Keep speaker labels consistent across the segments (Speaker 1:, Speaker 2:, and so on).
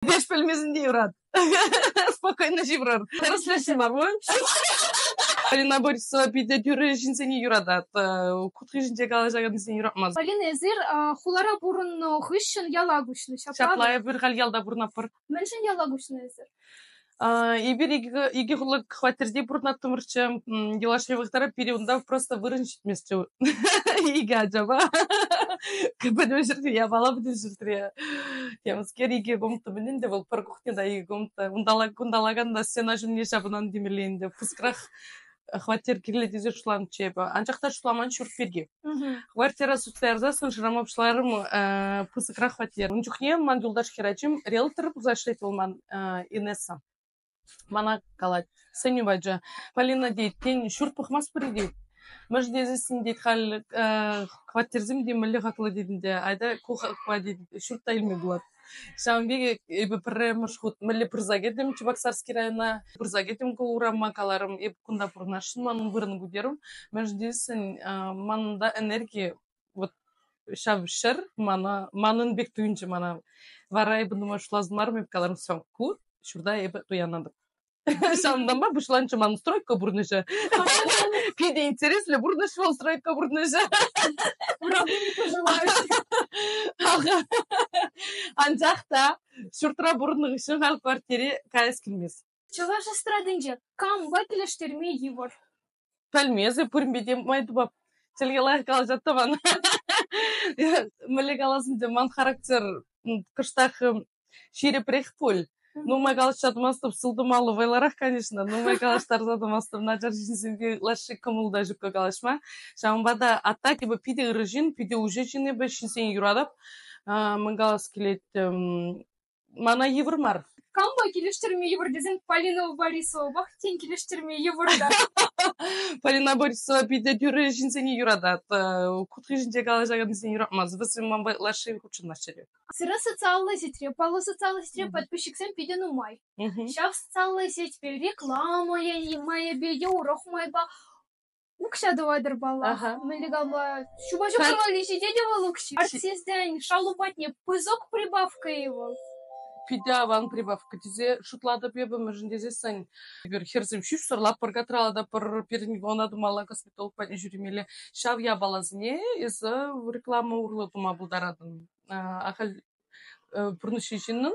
Speaker 1: Эпех пӗлмесен те юрат. Спокойно ҫывӑрӑр. Тӗрӗслесем мар пуль. Полина Борисова питӗ тӳрӗ ҫынсене юратать. Кутхишӗнче калаҫакансене юратмасть. Полина, эсир
Speaker 2: хулара пурӑннӑ хыҫҫӑн яла куҫнӑ. Ҫапла. Ҫапла, эпир халь
Speaker 1: ялта пурӑнатпӑр. Мӗншӗн яла куҫнӑ
Speaker 2: эсир? Эпир
Speaker 1: икӗ хутлӑ хваттерте пурӑнаттӑмӑрччӗ. Юлашки вӑхӑтра пире унта просто вырӑн ҫитмест икӗ ачапа. Пӗтӗм ҫӗрте япала пӗтӗм ҫӗртре. Темскер икӗ комната мӗнле вӑл пӗр кухня та икӗ комната. Кунталакан та стена ҫумне ҫапӑнан темелле ӗнтӗ. Пыскрах хваттер кирлӗ тесе шутланӑччӗ эпӗ. Анчах та шутламан ҫурт пирки. Хваттера сутса ярсассӑн шырама пуҫларӑм э, пысӑкрах хваттер. Ун чухне ман юлташ хӗрачим риэлтор пулса ӗҫлет вӑл ман э, Инесса. Мана калать, сӗнӳ пачӗ, Полина тет, тен, ҫурт пӑхмастпӑр-и тет. Мӗш тесессӗн тет, халь э, хваттерсем те мӗнле хаклӑ тет ӗнтӗ, айта ку хакпа тет, ҫурт та илме пулать. Ҫавӑн пекех эпӗ пӗрремӗш хут мӗнле пырса кӗтӗм Чебоксарский района, пырса кӗтӗм ку урама, каларӑм, эпӗ кунта пурӑнасшӑн, манӑн вырӑн пӗтерӗм. Мӗншӗн тесен манӑнта энерги вот ҫав ҫӗр мана, манӑн пек туйӑнчӗ мана. Вара эпӗ думаю, шутлас мар, эп каларӑм, все, ку, ҫурта эпӗ туянатӑп. Ҫавӑнтанпа пуҫланчӗ ман стройка пурнӑҫӗ. Питӗ интереслӗ пурнӑҫ вӑл стройка пурнӑҫӗ. Анчах та ҫуртра пурӑннӑ хыҫҫӑн халь квартире каяс килмест. Чӑваш эстрадинче
Speaker 2: кампа килӗштерме йывӑр? Пӗлмесӗр
Speaker 1: пуринпе те май тупап. Чӗлхе лайӑх калаҫать тӑван. Мӗнле каласын те, ман характер кӑштах ҫирӗпрех пуль. Нумай калаҫса тӑмастӑп, сылтӑмаллӑ вӑйлӑрах, конечно. Нумай калаҫтарса тӑмастӑп, начар ҫынсемпе лаҫҫи кӑмӑл та ҫукка калаҫма. Ҫавӑнпа та а так эпӗ питӗ ырӑ ҫын, питӗ уҫӑ ҫын эпӗ, ҫынсене юратап. Мӗн калас килет, Мана йывӑр мар. Кампа килӗштерме
Speaker 2: йывӑр тесен Полина Борисовапах тен килӗштерме йывӑр та.
Speaker 1: Полина Борисова питӗ тӳрӗ ҫынсене юратать. Кутки ҫинче калаҫакансене юратмасть. Вӗсем ман лаши хутшӑнаҫҫӗ. Сире социаллӑ
Speaker 2: сетьре, паллӑ социаллӑ сетьре подписчиксем питӗ нумай. Ҫав социаллӑ сетьпе реклама майӗпе те урӑх майпа Укҫа тӑватӑр паллах. Ага. Мӗнле капла? Ҫупа ҫуксӑр валли ҫитет вӑл укҫи. Артистсен шалу патне пысӑк прибавка-и вӑл? Питӗ аван
Speaker 1: прибавка тесе шутлатӑп эпӗ, мӗншӗн тесессӗн эпир хӗрсем ҫӳҫсӗр лаппӑрка тӑралата пӗр пирӗн вона тумалла косметолог патне ҫӳремелле. Ҫав япаласене эсӗ реклама урлӑ тума пултаратӑн. А, ахаль э, пурнӑҫҫи ҫыннӑн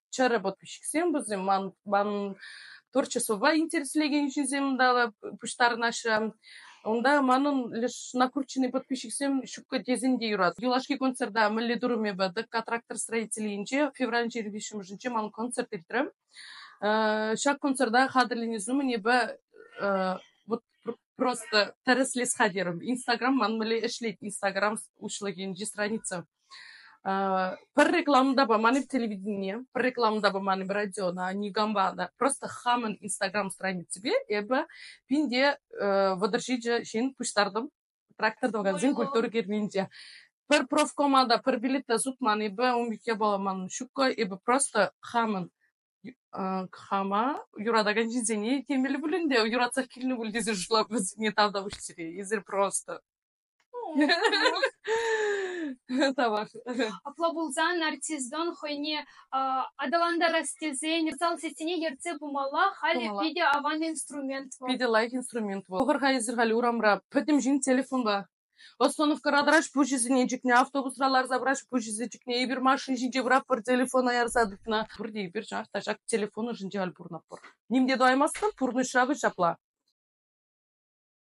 Speaker 1: чӗрӗ подписчиксем вӗсем ман ман творчествӑпа интереслекен ҫынсем тала пуҫтарӑнаҫҫӗ. Унта манӑн леш накрученный подписчиксем ҫуккӑ тесен те юрат. Юлашки концерта мӗнле турӑм эпӗ тӑкка трактор строителӗнче февраль ҫирви ҫумӑшӗнче ман концерт иртрӗм. Ҫак концерта хатӗрленес умӗн эпӗ вот просто тӗрӗслес хатӗрӗм. Инстаграм ман мӗнле ӗҫлет Инстаграм уҫлӑхӗнчи страница. Пӗр рекламу та паман-и телевиденине, пӗр рекламу та паман-и радиона, никампа та. Просто хамӑн Instagram страниципе эпӗ пин те вӑтӑр ҫичӗ ҫын пуҫтартӑм трактор тӑвакансен культура керменте. Пӗр профкома та, пӗр билет та сутман эпӗ, ун пекки пулать ман ҫукко. Эпӗ просто хамӑн хама юратакан ҫынсене темелле пулин те юратсах килнӗ пуль тесе шутлап вӗсене тавтапуҫ сире. Эсир просто Тавах. Апла
Speaker 2: пулсан нарциссӑн хӑйне аталантарас тесен зал сессине ертсе пымалла. Халӗ питӗ аван инструмент вӑл. Питӗ лайӑх инструмент
Speaker 1: вӑл. Пӑхӑр-ха эсир халь урамра пӗтӗм ҫын телефонпа. Остановкӑра тӑраҫ пуҫӗсене чикнӗ, автобусра ларса пыраҫ пуҫӗсене чикнӗ. Эпир машина ҫинче пураппӑр телефона ярса тытнӑ. Пурте эпир чӑнах та ҫак телефон ӑшӗнче халь пурӑнатпӑр. Ним те тумаймастӑн, пурнӑҫра вӑл ҫапла.